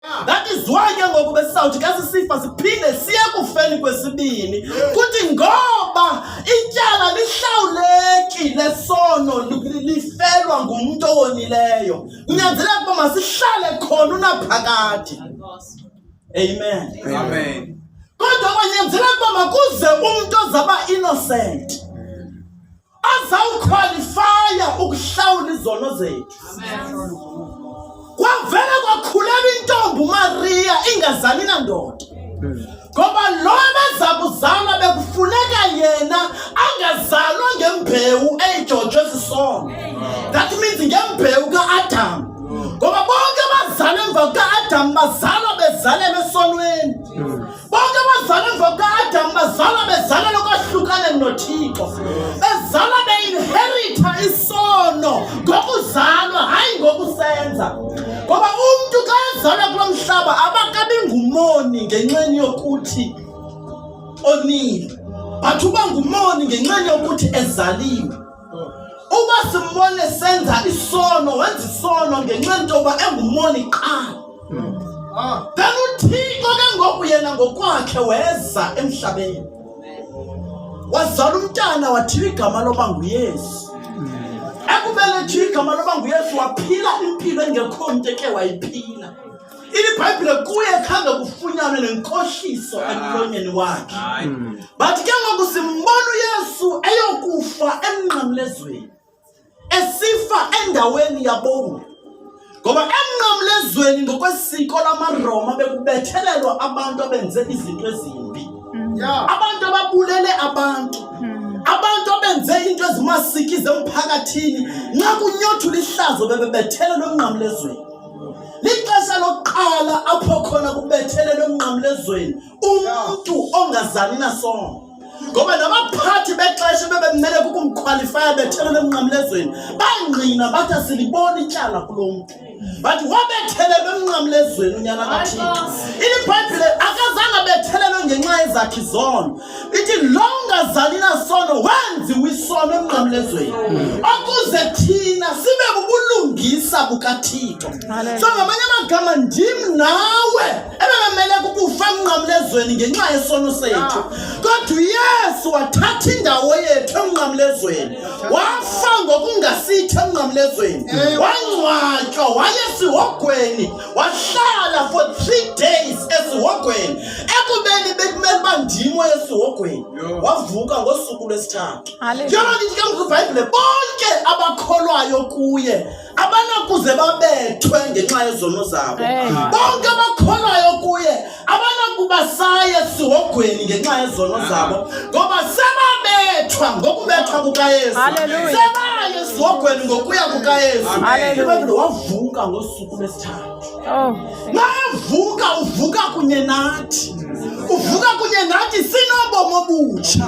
That is why ke ngoku besizawuthi xa sisifa siphinde siye kufeni kwesibini kuthi ngoba ityala lihlawuleki lesono lifelwa ngumntu owonileyo kunyanzeleka uba masihlale khona unaphakade amen amen kodwa kwanyanzeleka uba makuze umntu ozaba innocent azawukhwalifaya ukuhlawula izono zethu kwavele kwakhulelwa intombi umariya ingazali nandoda ngoba lo abeza kuzala bekufuneka yena angazalwa ngembewu eyijotshwe sisono that means ngembewu ka-adam ngoba bonke abazala emva kuka-adam bazalwa bezalelwe esonweni Bonke abazalwa emva kukaAdam bazalwa bezalelwa ukwahlukana noThixo. Bezalwa beinherita isono ngokuzalwa hayi ngokusenza. Ngoba umntu xa ezalwa kulo mhlaba abakabi ngumoni ngenxeni yokuthi onile. But uba ngumoni ngenxeni yokuthi ezaliwe. Uba simbone senza isono, wenza isono ngenxa yento yoba engumoni kuqala. Ah. Then uThixo ke ngoku yena ngokwakhe weza emhlabeni. Wazala umntana wathiwa igama loba nguYesu. Ekumele thiwa igama loba nguYesu waphila impilo engekho mntu eke wayiphila. ibhayibhile kuye khange kufunyanwe nenkohliso ah. emlonyeni wakhe hmm. but ke ngoku simbona uyesu eyokufa emnqamlezweni esifa endaweni yabomi ngoba emnqamlezweni ngokwesiko lamaroma bekubethelelwa abantu abenze izinto ezimbi hmm. abantu ababulele abantu hmm. abantu abenze into ezimasikize emphakathini nxa kunyothula ihlazo bebebethelelwa emnqamlezweni lixesha lokuqala apho khona kubethelele umnqamlezweni umntu ongazani nasono ngoba nabaphathi bexesha bebemele kukumkhwalifaya bethelele emnqamlezweni bangqina bathi asiliboni ityala kulo mntu bathi wabethelelwe emnqamlezweni unyana kathixo ilibhayibhile akazange abethelelwe ngenxa yezakhi zono ithi lo ungazali nasono wenziwa isono emnqamlezweni hmm. okuze thina sibe bubulungisa bukathixo so ngamanye amagama ndim nawe ebebemele kukufa emnqamlezweni ngenxa yesono sethu kodwa uyesu wathatha indawo yethu emnqamlezweni wafa ngokungasithi emnqamlezweni wangcwatywa wayesihogweni wahlala for three days esihogweni ekubeni bekumele uba ndimo esihogweni wavuka ngosuku lwesithathu yona ndithi ke ngokwibhayibhile bonke abakholwayo kuye abanakuze babethwe ngenxa yezono zabo bonke abakholwayo kuye abanakuba saya esihogweni ngenxa yezono zabo ngoba sebabethwa ngokubethwa kukayesu sebaye esihogweni ngokuya kukayesu wavuka ngosuku Oh, naye uvuka uvuka kunye nathi uvuka kunye nathi sinobomi obutsha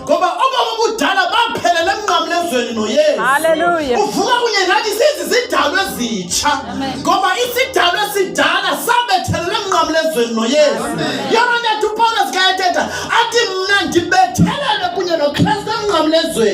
ngoba obomi obudala baphelele emnqamlezweni noyesu uvuka kunye nathi sizi sidalwe zitsha ngoba isidalwe sidala sabethelele emnqamlezweni noyesu yona ntetha upawulos kayethetha athi mna ndibethelele kunye nokristu emnqamlezweni